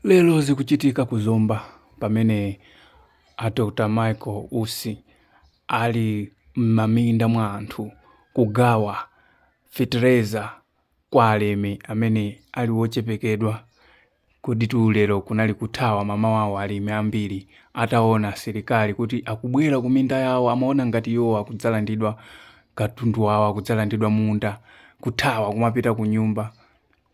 Lero zikuchitika ku Zomba pamene a Dr Michael Usi ali m'maminda mwa anthu kugawa fetereza kwa alimi amene ali ochepekedwa. Koditu lero kunali kuthawa mamawawo alimi ambiri ataona asilikali kuti akubwera kuminda yawo amaona ngati iwowo akudzalandidwa katundu wawo akudzalandidwa munda kuthawa kumapita kunyumba.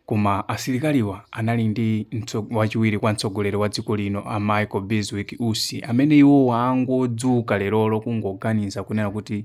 Koma asilikaliwa anali ndi wachiwiri kwa mtsogoleri wa dziko lino a Michael Bizwick Usi amene iwowa angodzuka lerolo kungoganiza kunena kuti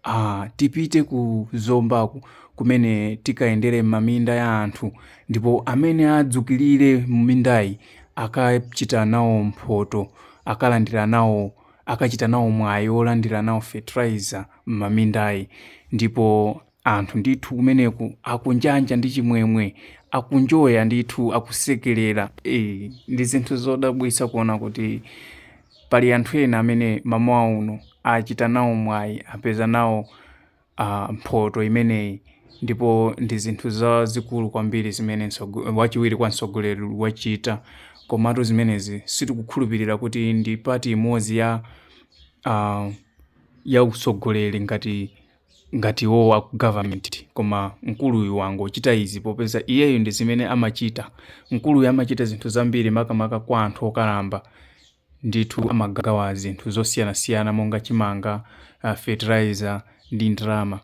ah, tipite ku Zombaku kumene tikayendere m'maminda ya anthu ndipo amene adzukilire m'mindayi akachita nawo mphoto akalandira nawo akachita nawo mwayi olandira nawo fertilizer m'mamindayi ndipo Anthu ndithu kumeneku akunjanja ndi chimwemwe, akunjoya ndithu, akusekerera. Eyi, ndi zinthu zodabwitsa kuona kuti pali anthu ena amene mamawa uno achita nawo mwayi, apeza nawo ah, mphoto imeneyi ndipo ndi zinthu zazikulu kwambiri zimene mtsogo- wachiwiri kwa mtsogoleri wachita. Komatu zimenezi sitikukhulupirira kuti ndi pati imodzi ya ah, ya utsogoleri ngati ngati iwowo aku government koma mkuluyu wangochita izi popeza iyeyo ndi zimene amachita mkuluyu amachita zinthu zambiri makamaka kwa anthu okalamba ndithu amagawa zinthu zosiyanasiyana monga chimanga uh, fertilizer ndi ndalama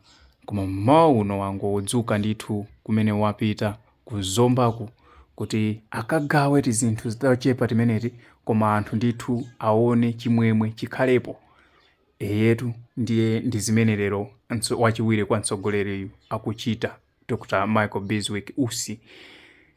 koma mmawa uno wangodzuka ndithu kumene wapita ku Zombaku kuti akagawe tizinthu tochepa timeneti koma anthu ndithu aone chimwemwe chikhalepo Eyetu ndiye ndi zimene lero wachiwiri kwa mtsogoleriyu akuchita Dr Michael Bizwick Usi.